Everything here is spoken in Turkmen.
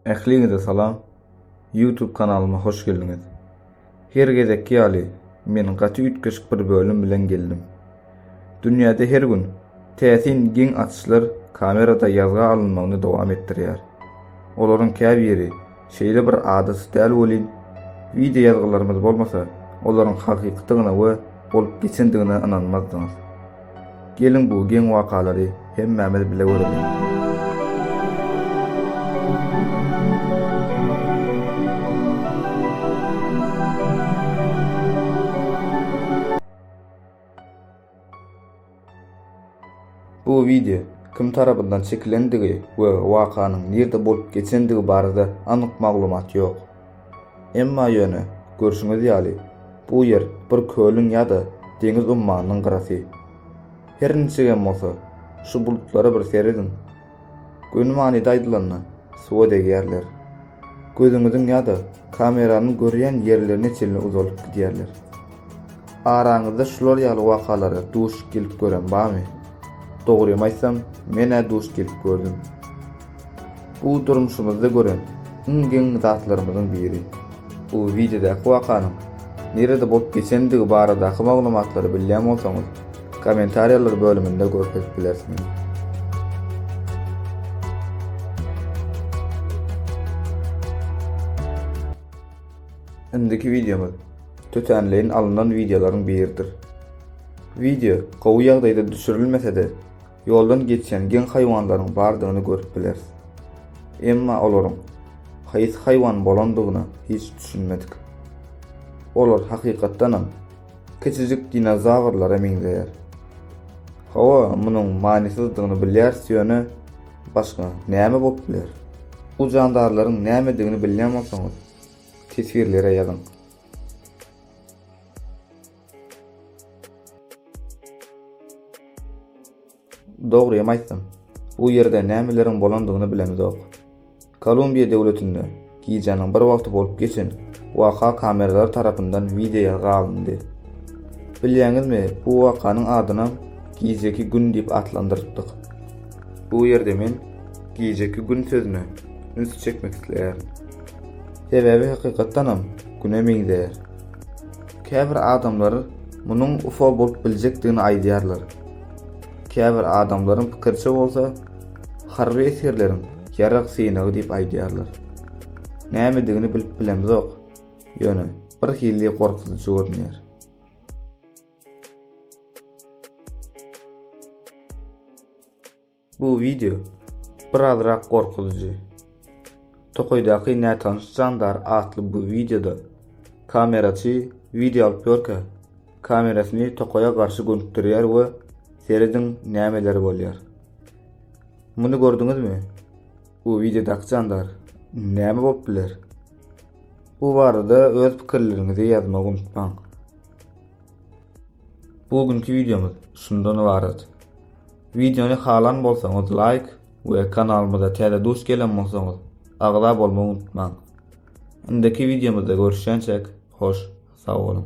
Ähliňize salam! Youtube kanalyma hoş geldiňiz! Her gezekki ýaly men gaty üýtgeşik bir bölüm bilen geldim. Dünýäde her gün täsin geň atyşlar kamerada ýazga alynmagyny dowam etdirýär. Olaryň käbiri şeýle bir adaty däl welin, wideo ýazgylarymyz bolmasa olaryň hakykydygyna we bolup geçendigine ynanmazdyňyz. Geliň bu geň wakalary hemmämiz bile göreliň. Bu wideo kim tarapyndan çekilendigi we wakanyň nirde bolup geçendigi barada anyk maglumat ýok. Emma ýöne, görşüňiz ýaly, bu ýer bir kölüň ýa-da deňiz ummanynyň gyrasy. Her niçigem bolsa, şu bulutlara bir serediň. Göni manyda aýdylanda, suwa degýärler. Gözüňiziň ýa-da kameranyň görýän ýerlerine çenli uzalyp gidýärler. Araňyzda şular ýaly wakalara duş gelip gören barmy? Dogrymy aýtsam, men-ä duş gelip gördüm. Bu durmuşymyzda gören iň geň zatlarymyzyň biri. Bu wideodäki wakanyň nirede bolup geçendigi baradaky maglumatlary bilýän bolsaňyz, kommentariýalar bölüminde görkezip bilersiňiz. Indiki wideomyz tötänleýin alyndan wideolaryň biridir. Wideo gowy ýagdaýda düşürilmese-de, ýoldan geçýän geň haýwanlaryň bardygyny görüp bileris. Emma olaryň haýsy haýwan bolandygyna hiç düşünmedik. Olar hakykatdanam kiçijik dinozawrlara meňzeýär. Hawa, munuň manysyzdygyny bilýäris ýöne, başga näme bolup biler? Bu jandarlaryň nämedigini bilýän bolsaňyz, teswirlere ýazyň. Dogrymy aýtsam, bu ýerde nämeleriň bolandygyny bilemizok. Kolumbiýa döwletinde gijäniň bir wagty bolup geçen waka kameralar tarapyndan wideo ýazga alyndy. Bilýäňizmi, bu wakanyň adynam Gijeki gün diýip atlandyrypdyk. Bu ýerde men Gijeki gün sözüne üns çekmek isleýärin. Sebäbi hakykatdanam Güne meňzeýär. Käbir adamlar munuň UFO bolup biljekdigini aýdýarlar. Käbir adamlaryň pikiriçe bolsa, harby esgerleriň ýarag synagy diýip aýdýarlar. Nämedigini bilip bilemzok, ýöne birhili gorkuzyjy görünýär. Bu wideo birazrak gorkuzyjy. Tokaýdaky nätanyş jandar atly bu wideoda kameraçy wideo alyp ýörkä, kamerasyny tokaýa garşy gönükdirýär we serediň nämeler bolýar. Muny gördüňizmi? Bu wideodaky jandar näme bolup biler? Bu barada öz pikirleriňizi ýazmagy unutmaň. Bu günki wideomyz şundan ybarat. Wideony halan bolsaňyz laýk we kanalymyza täze duş gelen bolsaňyz agza bolmagy unutmaň. Indiki wideomyzda görüşýänçäk, hoş sag boluň.